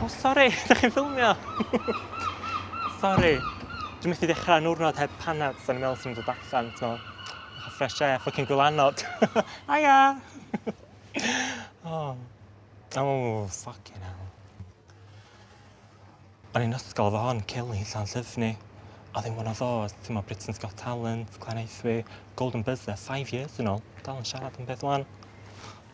O, oh, sori, da chi'n ffilmio? sori. Dwi'n methu dechrau nwrnod heb panad, so ni'n meddwl sy'n dod allan, so... Eich fresh air, ffocin gwylanod. Aia! oh. Oh, ffocin hell. O'n i'n ysgol fo hon, Kelly, llan llyfni. Oedd hi'n one of those, ti'n mo Britain's Got Talent, Glen Eithwi, Golden Buzzer, five years yn ôl. Dal yn siarad yn beth wan.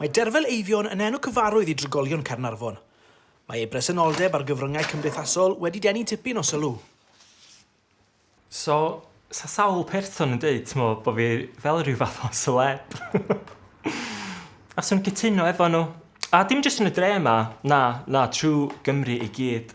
Mae Derfel Eifion yn enw cyfarwydd i drigolion Caernarfon. Mae ei bresenoldeb ar gyfryngau cymdeithasol wedi denu tipyn o sylw. So, sa sawl person yn deud, t'mo, bo' fi fel rhyw fath o seleb. A sw'n cytuno efo nhw. A dim jyst yn y dre 'ma, na, na, trw Gymru i gyd.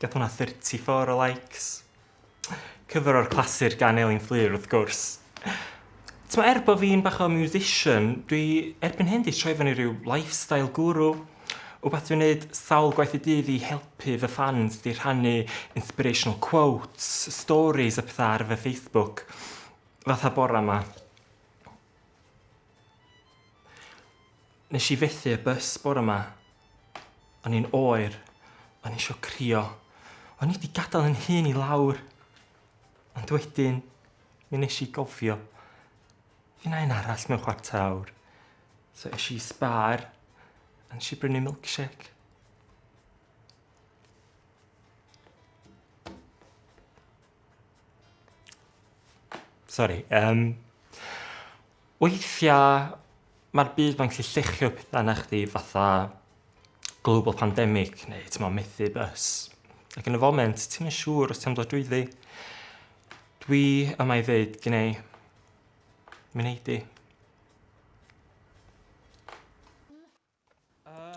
Gath hwnna 34 o likes. Cyfer o'r clasur gan Elin Fflur wrth gwrs. T'mo' er bo' fi'n bach o musician dwi erbyn hyn 'di troi fyny ryw lifestyle guru, wbath dwi'n neud sawl gwaith y dydd i helpu fy ffans 'di rhannu inspirational quotes, storis a petha ar fy Facebook. Fatha bora 'ma. Nesh i fethu y bys bora 'ma. O'n i'n oer, o'n i isio crio, o'n i 'di gadal 'yn hun i lawr, ond wedyn mi nesh i gofio fy' 'na un arall mewn chwarter awr, so esh i i Spar a nesh i brynu milkshake. Sori yym. Weithia ma'r byd mae'n gallu lluchio petha arna chdi fatha global pandemic neu t'mo' methu bys. Ac yn y foment ti'm yn siŵr os ti am dod drwyddi. Dwi yma i ddeud gwneu. Mi wnei di.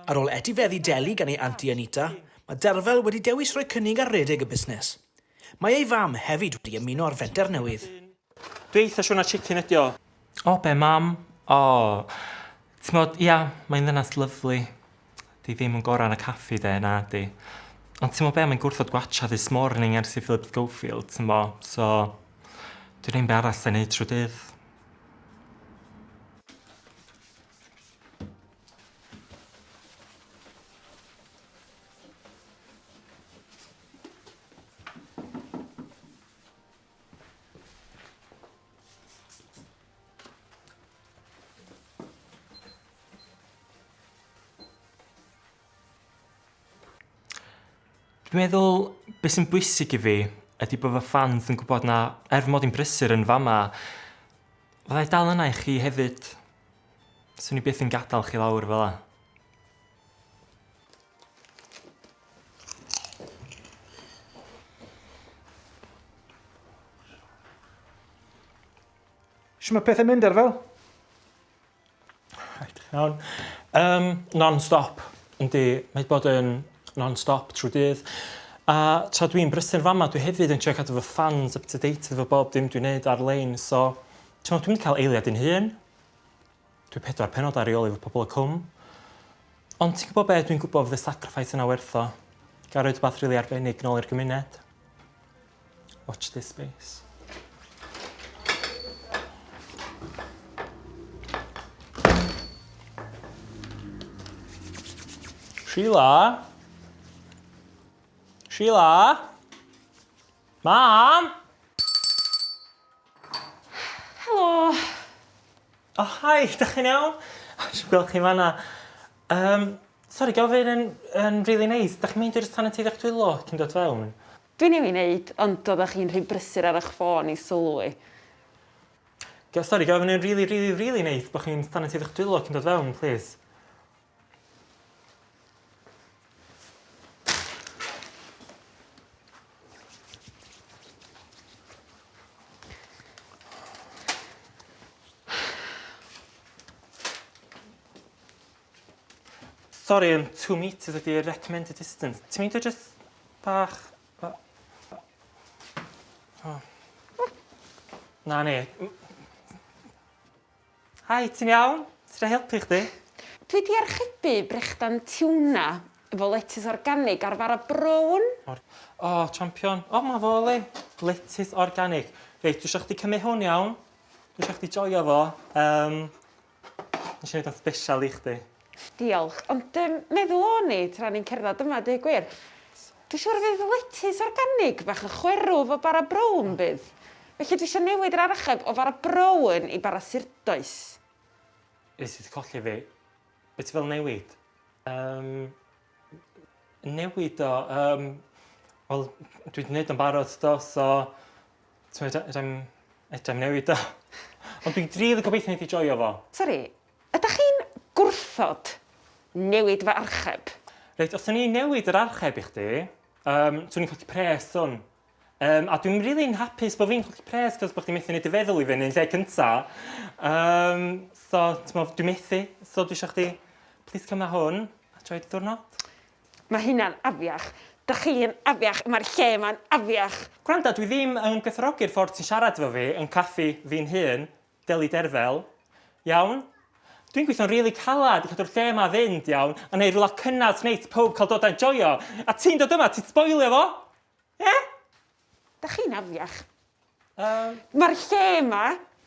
Ar ôl etifeddu Deli gan ei anti Anita, mae Derfel wedi dewis rhoi cynnig ar redeg y busnes. Mae ei fam hefyd wedi ymuno â'r fenter newydd. Dwi eitha siwr na chicken ydi o. O be mam? O! T'mod, ia, mae'n ddynas lyfli. 'di ddim yn gora yn y caffi 'de, nadi. Ond t'mo be, mae'n gwrthod gwatcha This Morning ers i Philip Schofield, t'mo, so dwi ddim be arall 'llai neud trw dydd. Dwi'n meddwl, beth sy'n bwysig i fi ydy bod fy ffans yn gwybod na, er mod i'n brysur yn fama, fyddai dal yna i chi hefyd. Swn i byth yn gadael chi lawr fel 'a. Shw ma' pethe'n mynd, Arfel? Reit, iawn. Um, non-stop. Yndi, mae bod yn non-stop trwy dydd. A tra dwi'n brysur fama, dwi hefyd yn trio cadw fy fans up to date efo bob dim dwi'n neud ar-lein, so T'mod dwi 'di ca'l eiliad i'n hun. Dwi pedwar pennod ar reoli efo pobol y Cwm. Ond ti'n gwbo be' dwi'n gwbo fydd y sacrifice yna werth o. Ga' roid wbath rili arbennig nôl i'r gymuned. Watch this space. Sheila? Sheila? Mam? Helo! O hi! Dach chi'n iawn? O dwi'm gwel' chi fan 'na. Yym sori gofyn yn yn rili neis 'dach chi'n meindio jyst talu tŷ fach dwylo cyn dod fewn? Dwi newydd neud ond oddach chi'n rhy brysur ar 'ych ffôn i sylwi. Sori gofyn yn rili rili rili neis bo' chi'n talu tŷ fach dwylo cyn dod fewn plîs. Sorry, um, two meters ydy recommended distance. Ti'n mynd o just bach... Oh. Na, ne. Hi, ti'n iawn? Fedra i helpu chdi? Dwi 'di archebu brechdan tiwna efo letys organig a'r fara brown. Or- O, champion. O, 'ma fo, Elin. Letys organig. Reit, dwi isio chdi cymryd hwn, iawn? Dwi isio chdi joio fo. Yym, nesh i neud o'n sbeshal i chdi. Diolch. Ond yym meddwl o'n i tra o'n i'n cerddad yma a deud gwir, dwi siŵr y fydd letys organig bach yn chwerw 'fo bara brown bydd? Felly dwi isio newid yr archeb o fara brown i bara surdoes. Wyt ti 'di colli fi. Be' ti fel newid? Yym newid o yym wel dwi 'di neud o'n barod do so t'mod fedrai'm fedrai'm newid o. Ond dwi'n rili gobeithio neith 'i joio fo. Sori. Ydach chi'n gwrthod newid fy archeb? Reit, os 'sen i'n newid yr archeb i chdi, um, 'swn i'n colli pres, swn. Um, a dwi'n rili'n hapus bod fi'n colli pres, cos bod chdi methu neud dy feddwl i fyny yn lle cynta. Um, so, t'mo, dwi'n methu, so dwi eisiau chdi, plis cymna hwn, a troi dy ddwrnod. Mae hynna'n afiach. Da chi'n afiach, mae'r lle yma'n afiach. Gwranda, dwi ddim yn gwerthfawrogi'r ffordd ti'n siarad efo fi yn caffi fi'n hun, Deli Derfel, Iawn. Dwi'n gweithio'n rili calad i cadw'r lle yma fynd, iawn, a neud rwla cynnes sy'n neis i pawb cael dod a enjoio, a ti'n dod yma, ti'n sboilio fo! Ie? Dach chi'n afiach. Yym. Mae'r lle yma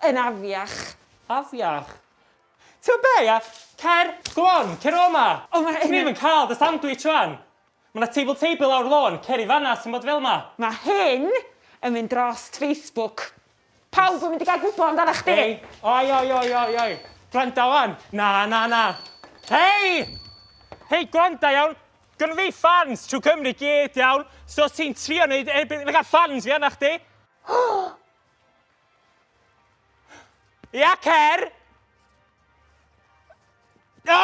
yn afiach. Afiach? Ti'n gwybod be, ia? Cer, go on, cer o 'ma! O, mae hyn yn... Dwi ddim yn cael dy sandwich rwan! Mae 'na table table lawr lôn, cer i fan'na os ti'n bod fel 'ma! Mae hyn yn mynd drost Facebook. Pawb yn mynd i gael gwybod amdana chdi! Hei! Oi, oi, oi, oi, oi! Gwranda wan! Na, na, na! Hei! Hei, gwranda iawn! Gynnu fi fans trwy Cymru gyd iawn, so os ti'n trio neud erbyn... Fe gael fans fi arna chdi! Ia, cer! No!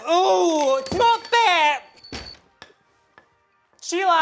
Ww! Ti'n gwybod be? Sheila!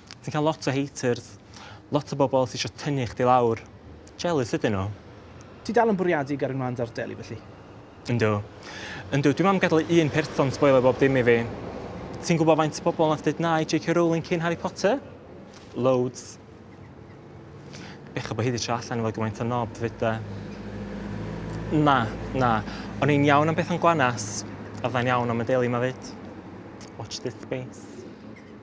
Ti'n cael lot o haters. Lot o bobl sy isio tynnu chdi lawr. Jealous ydyn nhw. Ti dal yn bwriadu gyrru mlaen da'r deli felly? Yndw. Yndw, dwi'm am gadal i un person sboilio bob dim i fi. Ti'n gwybod faint o bobl nath deud na i JK Rowling cyn Harry Potter? Loads. Bechod bod hi 'di trio allan efo gymaint o nob 'fyd 'de. Na, na. O'n i'n iawn am Bethan Gwanas. A fyddai'n iawn am y deli 'ma 'fyd. Watch this space.